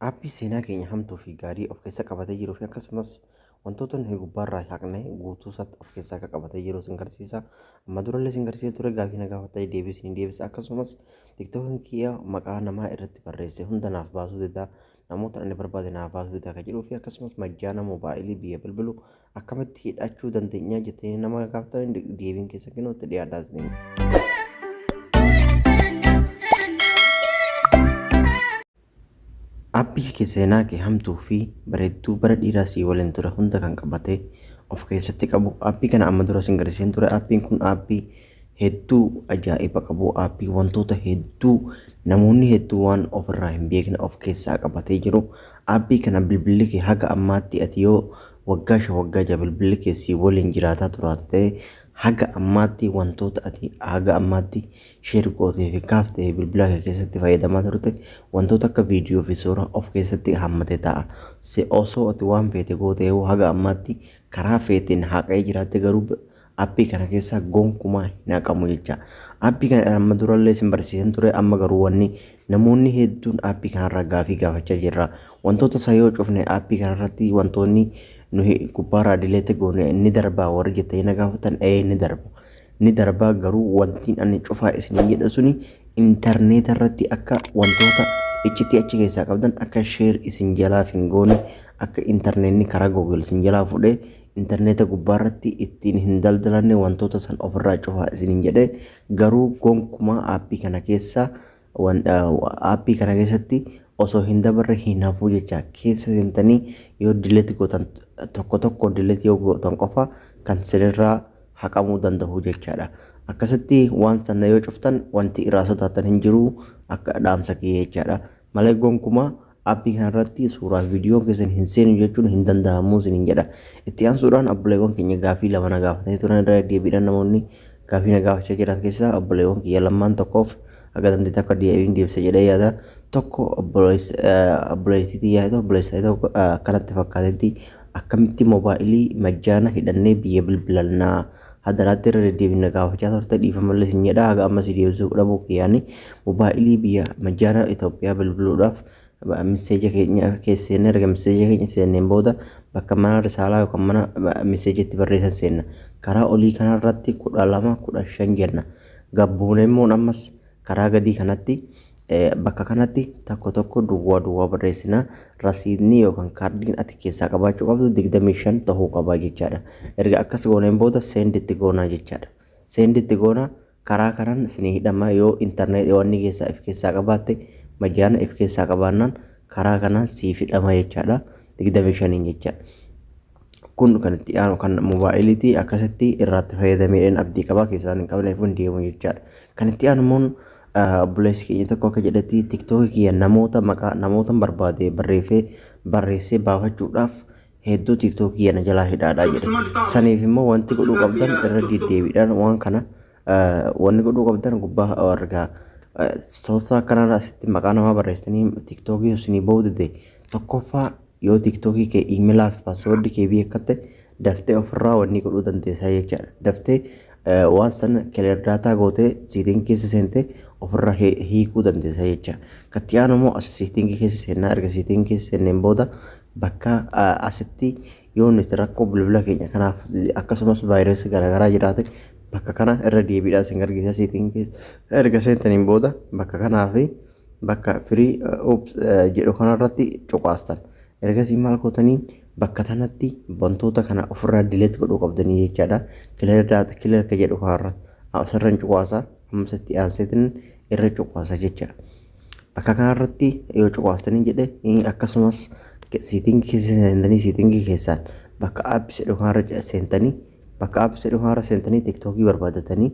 Aappii seenaa keenya hamtuu fi gaarii of keessa qabatee jiruu fi akkasumas wantoota nuyi gubbaarraa haqne guutuu isaatti of keessaa akka qabatee jiru sin garsiisa. Amma durallee sin garsiisa ture gaafii na gaafattanii deebii sin deebisa akkasumas tiktookiin kiyya maqaa namaa irratti barreesse hunda naaf baasuu dida namoota ani barbaade naaf baasuu dida akka jedhuu fi akkasumas majjaana moobaayilii biyya bilbilu Akkamitti hidhachuu dandeenya jettanii nama gaafatan deebiin keessa kennu itti dhiyaadhaa isiniin. Appii kee seenaa kee hamtuu fi bareedduu bara dhiiraa sii waliin ture hunda kan qabate of keessatti qabu appii kana amma dura sin garsiiseen ture appiin kun appii hedduu ajaa'iba qabu aappii wantoota hedduu namoonni hedduu waan of irraa hin beekne of keessaa qabatee jiru aappii kana bilbilli kee haga ammaatti ati yoo waggaa shan waggaa ja'a bilbilli kee si waliin jiraataa turaate ta'e haga ammaatti wantoota ati haga ammaatti sheer gootee fi kaaftee fi bilbila kee keessatti fayyadamaa turte wantoota akka viidiyoo fi suuraa of keessatti hammatee ta'a. Si osoo ati waan feete gootee yoo haga ammaatti karaa feeteen haqee jiraatte garuu Appii kana keessaa gonkumaa hin haqamu jecha. Appii kana amma durallee isin barsiisan ture amma garuu wanni namoonni hedduun appii kanarraa gaafii gaafachaa jirra. Wantoota isaa yoo cufne appii kanarratti wantoonni nuyi gubbaarraa dileete goone ni darbaa warri jettanii na gaafatan ee ni darba. Ni darbaa garuu wantiin ani cufaa isin jedha suni intarneeta irratti akka wantoota iccitii achi keessaa qabdan akka sheer isin jalaaf hin goone akka intarneetni karaa googil isin jalaa fudhee interneeta gubbaarratti ittiin hin daldalanne wantoota san ofirraa cufaa isiniin jedhe garuu gonkumaa aappii kana keessa aappii kana keessatti osoo hin dabarre hin hafuu jecha keessa seentanii yoo dileeti gootan tokko tokko dileeti yoo gootan qofa kan sinirraa haqamuu danda'u jechaadha. Akkasitti waan sana yoo cuftan wanti irraa sodaatan hin jiru akka dhaamsa kiyya jechaadha. Malee gonkumaa Appii kana irratti suuraa fi viidiyoo keessan hin seenu jechuun hin danda'amu isiniin jedha. Itti aansuudhaan obboleewwan keenya gaafii lama na gaafatanii turan irra deebiidhaan namoonni gaafii na gaafachaa jiran keessaa obboleewwan kiyya lamaan tokkoof akka dandeetti akka deebiin deebisa jedhee yaada. Tokko obboleettii tiyyaa ta'u obboleessaa ta'u akkanatti fakkaatetti akkamitti moobaayilii majjaana hidhannee biyya bilbilannaa Hadaraatti irra deddeebiin na gaafachaa turte dhiifamallee sin jedha haga amma si deebisuu dhabuu kiyyaani mobaayilii biyya majjaara Itoophiyaa bilbiluudhaaf miseeja keenya keessa seenne erga miseeja keenya seenneen booda bakka mana risaalaa yookaan mana miseeja itti barreessan seenna karaa olii kanarratti kudha lama kudha shan jenna gabbuuneemmoon ammas Karaa gadii kanatti bakka kanatti tokko tokko duwwaa duwwaa barreessina. Rasiidni yookaan kaardiin ati keessaa qabaachuu qabdu 25 ta'uu qaba jechaadha. Erga akkas gooneen booda seendi itti goonaa jechaadha. Seendi itti goona karaa kanaan isinii hidhama yoo intarneetii wanni keessaa if keessaa qabaatte majaana if keessaa qabaannaan karaa kanaan siif hidhama jechaadha. 25 jecha. Kun kan itti aanu kan moobaayiliitii akkasitti irraatti fayyadameen abdii qabaa keessaan hin qabneef hin deemu jechaadha. Kan itti aanu immoo obboleessi keenya tokko akka jedhetti tiktookii kiyya namoota maqaa namootan barbaade barreeffee barreessee baafachuudhaaf hedduu tiktookii kiyya na jalaa hidhaadha jedhe. Saniif immoo wanti godhuu qabdan irra deddeebiidhaan waan kana wanni godhuu qabdan gubbaa argaa. Tooftaa akkanaa asitti maqaa namaa barreessanii tiktookii isinii ba'uu dide tokkoffaa Yoo TikTokii kee emailaa fi password kee beekatte daftee ofirraa wanni godhuu dandeessaa jechaadha. Daftee eh, waan san clear data gootee setting keessa seentee ofirraa hi- hiikuu dandeessaa jecha. Katti aanu immoo as setting keessa seennaa erga setting keessa seenneen booda bakka ah, asitti yoo nuti rakkoo bilbila keenya kanaaf akkasumas vaayirasii garaagaraa jiraate bakka kana irra deebiidhaan isin gargaarsa setting keessa erga seentaniin booda bakka kanaa fi bakka free oops jedhu kanarratti cuqaastan ergasii maal gootaniin bakka tanatti wantoota kana ofirraa dileet godhuu qabdanii jechaadha kileer daata kileer ka jedhu kanarra asirra hin cuqaasa ammas itti aanseetiin irra cuqaasa jecha bakka kanarratti yoo cuqaastanii jedhe akkasumas siitingi keessa seentanii siitingi keessaan bakka apps jedhu kanarra seentanii bakka apps jedhu kanarra seentanii tiktookii barbaadatanii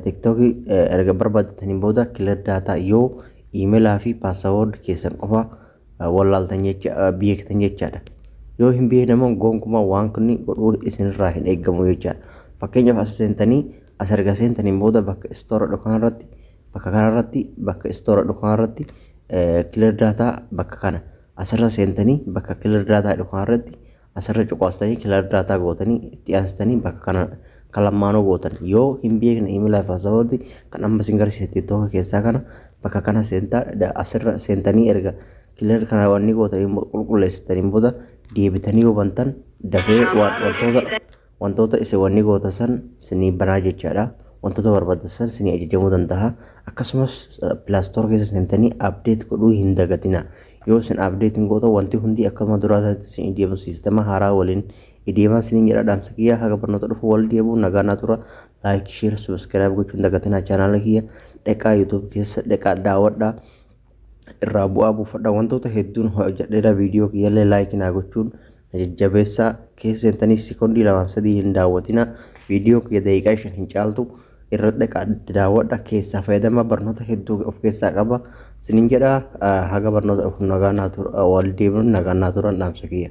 TikTok erga barbaaddataniin booda clear data yoo email fi password keessan qofa wallaaltan jecha beektan jechaadha. Yoo hin beekne immoo gonkumaa waan kunni godhuu isinirraa hin eegamu jechaadha. Fakkeenyaaf as seentanii as erga seentaniin booda bakka istoora dhukaan irratti bakka kana irratti bakka istoora dhukaan irratti clear data bakka kana asirra seentanii bakka clear data dhukaan irratti Asirra cuqaastanii clear data gootanii itti aansitanii bakka kana kan lammaanoo gootan yoo hin beekne email fi password kan amma isin garsiise tiktok keessaa kana bakka kana seentaa da- asirra seentanii erga clear kana wanni gootanii qulqulleessitaniin booda deebitanii yoo bantan dafee waan wantoota Wantoota isin wanni goota san sinii banaa jechaadha. Wantoota barbaadda san sinii ajajamuu dandaha. Akkasumas Play Store keessa seentanii update godhuu hin dagatina. Yoo isin update hin gootan wanti hundi akkuma duraa sanitti sinii deema siistema haaraa waliin ideemaa siniin jedha dhaamsa kiyya haga barnoota dhufu wal deebu nagaa naa tura like share subscribe gochuun dagatina channel kiyya dheqaa youtube keessa dheqaa daawadha. irraa bu'aa buufadha wantoota hedduun hojjedheera viidiyoo kiyyallee laayikii naa gochuun na jajjabeessaa keessa seentanii sekondii lamaaf sadii hin daawwatina viidiyoo kiyya daqiiqaa shan hin caaltu irra dhaqaa itti daawwadha keessaa fayyadama barnoota hedduu of keessaa qaba sinin jedha ah, haga barnoota dhufu nagaa naa tura wal deebinuun nagaa naa turan dhaamsa kiyya.